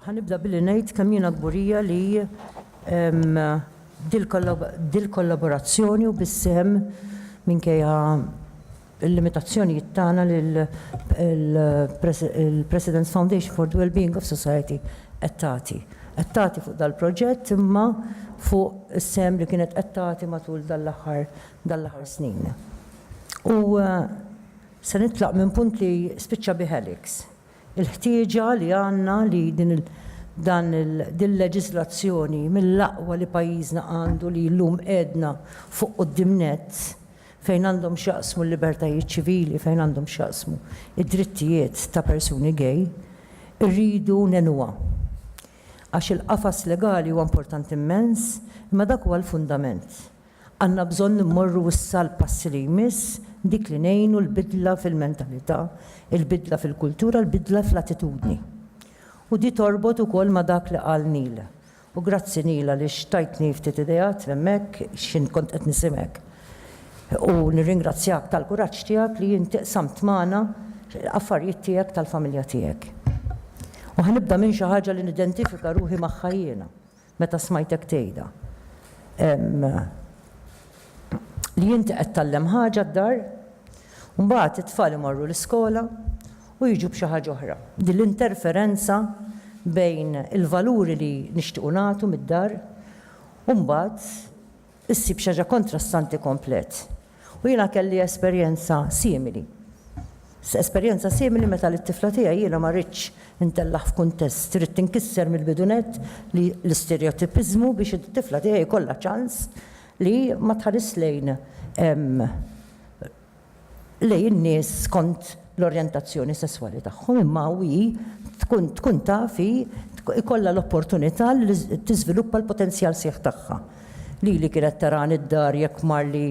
Ħanibda billi ngħid kemm jiena kburija li dil-kollaborazzjoni u bis-sehem minkejja il-limitazzjonijiet tagħna li l-President's Foundation for the Wellbeing of Society qed tagħti. Qed tagħti fuq dal-proġett imma fuq is-sehem li kienet qed tagħti matul dan l-aħħar dan l-aħħar snin. U se nitlaq minn punt li spiċċa bi Alex. il-ħtieġa li għandna li din il-leġiżlazzjoni mill-aqwa li pajjiżna għandu li llum qegħedna fuq quddiem nett fejn għandhom x'jaqsmu l-libertajiet ċivili, fejn għandhom x'jaqsmu d-drittijiet ta' persuni gay, irridu ngħinuha. Għax il-qafas legali huwa importanti mmens, imma dak huwa l-fundament. Għandna bżonn immorru issa l-passi li jmiss, dik li ngħinu l-bidla fil-mentalità, il-bidla fil-kultura, l-bidla fl-attitudni. U di torbot ukoll ma' dak li qal Neil. U grazzi Neil għaliex tajtni ftit ideat hemmhekk x'int kont qed nisimgħek. U nirringrazzjak tal-kuraġġ tiegħek li inti qsamt magħna affarijiet tiegħek tal-familja tiegħek. U ħa nibda minn xi ħaġa li nidentifika ruħi magħha jiena. Meta smajtek tgħidha. Ehm. Li inti qed tgħallem ħaġa d-dar, u mbagħad it-tfal imorru l-iskola u jiġu b'xi ħaġa oħra. Din l-interferenza bejn il-valuri li nixtiequ nagħtu mid-dar u mbagħad issib xi ħaġa kontrastanti komplet. U jiena kelli esperjenza simili. Esperjenza simili meta lit-tifla tiegħi jiena ma ridtx intellagħ f'kuntest, ridt inkisser mill-bidu nett li l-isterjotipiżmu biex it-tifla tiegħi jkollha ċans li ma tħaris lejn lejn in-nies skont l-orjentazzjoni sesswali tagħhom imma hi tkun tkun taf hi jkollha l-opportunità li tiżviluppa l-potenzjal sħiħ tagħha. Lili kienet tarani d-dar jekk marli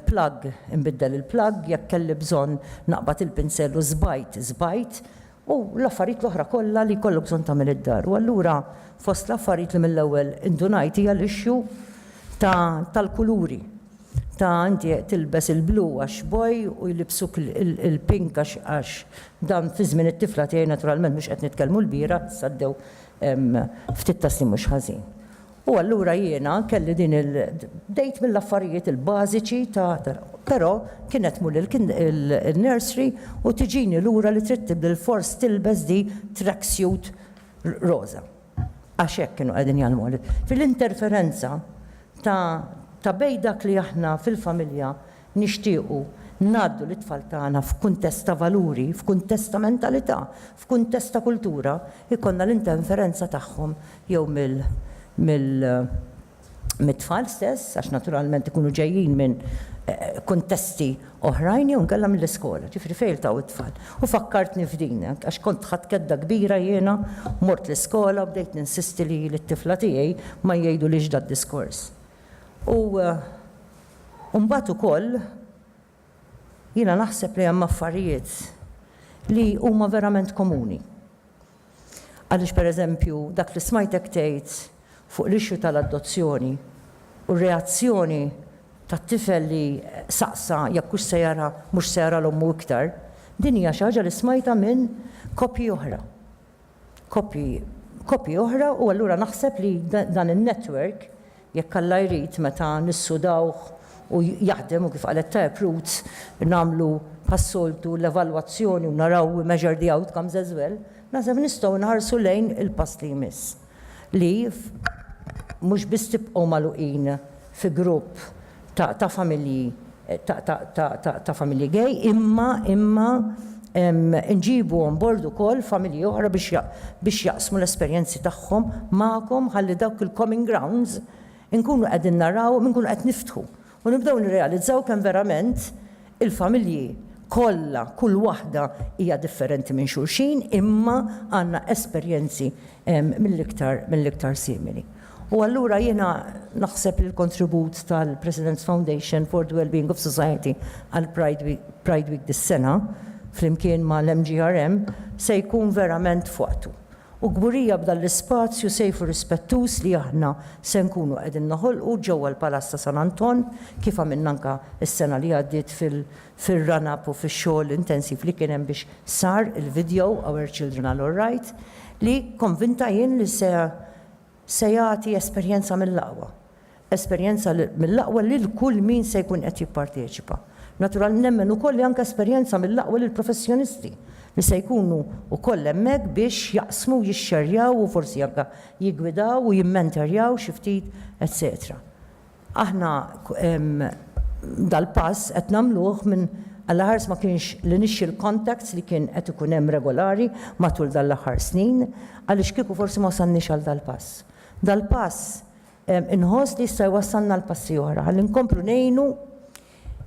plug inbiddel il-plug, jekk kelli bżonn naqbad il-pinsell u żbajt, żbajt. u l-affarijiet l-oħra kollha li jkollok bżonn tagħmel id-dar. U allura fost l-affarijiet li mill-ewwel indunajt hija l-issue ta' tal-kuluri, ta' inti tilbes il-blu għax boy u jlibbsuk il-pink għax għax dan fi żmien it-tifla tiegħi naturalment mhux qed nitkellmu l-bieraħ issa għaddew ftit ta' snin mhux ħażin. U allura jiena kelli din il. Bdejt mill-affarijiet il-bażiċi ta' però kien qed mur il-nursery u tiġini lura li trid bilfors tilbes di track suit roża. Għax hekk kienu qegħdin jgħallmuha li. Fil-interferenza ta' bejn dak li aħna fil-familja Nixtiequ ngħaddu lit-tfal tagħna f'kuntest ta' valuri, f'kuntest ta' mentalità, f'kuntest ta' kultura, ikollna l-interferenza tagħhom jew mill mit-tfal stess, għax naturalment ikunu ġejjin minn kuntesti oħrajn jew inkella mill-iskola, ġifieri fejn iltaqgħu t-tfal. U fakkartni f'din, għax kont ħadt kedda kbira jiena, mort l-iskola u bdejt ninsisti li lit-tifla tiegħi ma jgħidulhiex dad-diskors. U mbagħad ukoll jiena naħseb li hemm affarijiet li huma verament komuni. Għaliex pereżempju dak li smajtek tgħid fuq l-issue tal-adozzjoni u r-reazzjoni tat-tifel li saqsa jekk hux se jara mhux se jara 'l ommu iktar, din hija xi ħaġa li smajtha minn koppji oħra. kopji kopji oħra u allura naħseb li dan in-network jekk Alla jrid meta nissudawh u jaħdem u kif qalet tajjeb Ruth nagħmlu bħas-soltu l-evalwazzjoni u naraw we measure the outcomes as well naħseb nistgħu nħarsu lejn il-pass li jmiss li mhux biss tibqgħu magħluqin fi grupp ta' familji ta' familji gay imma imma nġibu on board ukoll familji oħra biex biex jaqsmu l-esperjenzi tagħhom magħkom ħalli dawk il-comming grounds inkunu qegħdin narawhom inkunu qed niftħu u nibdew nirrealizzaw kemm verament Il-familji kollha, kull waħda hija differenti minn xulxin imma għandna esperjenzi mill-iktar mill-iktar simili. U allura jiena naħseb li l-kontribut tal-President's Foundation for the Wellbeing of Society għall-Pride Week Pride Week dis-sena, flimkien mal-MGRM, se jkun verament f'waqtu. U kburija b'dan l-ispazju safe u rispettuż li aħna se nkunu qegħdin noħolqu ġewwa l-Palazz ta' San Anton, kif għamilna anke s-sena li għaddiet fir-run up u fix-xogħol intensiv li kien hemm biex sar il-video Our Children Are Alright, li konvinta jien li se Se jagħti esperjenza mill-aqwa. Esperjenza mill-aqwa lil kull min se jkun qed jipparteċipa. Naturalment nemmen ukoll li anke esperjenza mill-aqwa lill-professjonisti li se jkunu wkoll hemmhekk biex jaqsmu, jixxerjaw u forsi anke jiggwidaw u jimmenterjaw xi ftit, etċetera. Aħna dal-pass qed nagħmluh minn għall-aħħar ma kienx l-initial contacts li kien qed ikun hemm regolari matul dan l-aħħar snin, għaliex kieku forsi ma wasalniex għal dal-pass. Dal-pass inħoss li jista' jwassalna għal passi oħra, ħalli nkomplu ngħinu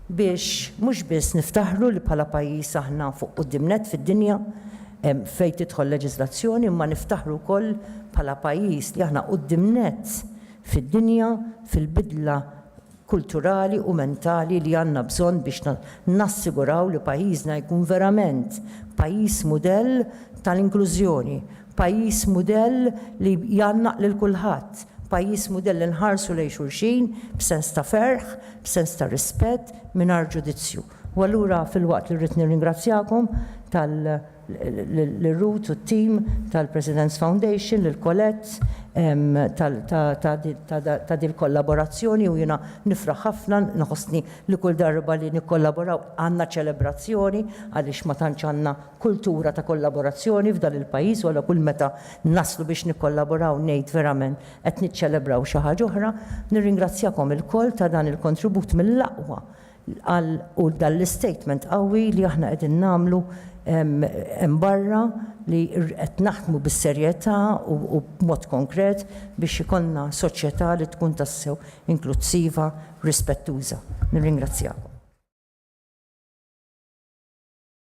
biex mhux biss niftaħru li bħala pajjiż aħna fuq quddiem nett fid-dinja fejn tidħol leġiżlazzjoni imma niftaħru wkoll bħala pajjiż li aħna quddiem nett fid-dinja fil-bidla kulturali u mentali li għandna bżonn biex nassiguraw li pajjiżna jkun verament pajjiż mudell tal-inklużjoni, Pajjiż mudell li jgħannaq lil kulħadd, pajjiż mudell li nħarsu lejn xulxin b'sens ta' ferħ, b'sens ta' rispett, mingħajr ġudizzju. U allura filwaqt li rrid nirringrazzjakom tal lil Ruth u t-tim tal-President's Foundation, lil Colette ta' dil-kollaborazzjoni u jiena nifraħ ħafna, nħossni li kull darba li nikkollaboraw għandna ċelebrazzjoni għaliex ma tantx għandna kultura ta' kollaborazzjoni f'dan il-pajjiż u allura kull meta naslu biex nikkollaboraw ngħid verament qed niċċelebraw xi ħaġa oħra. Nirringrazzjakom ilkoll ta' dan il-kontribut mill-aqwa għal u dan l-istatement qawwi li aħna qegħdin nagħmlu hemm barra li qed naħdmu bis-serjetà u b'mod konkret biex ikollna soċjetà li tkun tassew inklussiva, rispettuża. Nirringrazzjakom.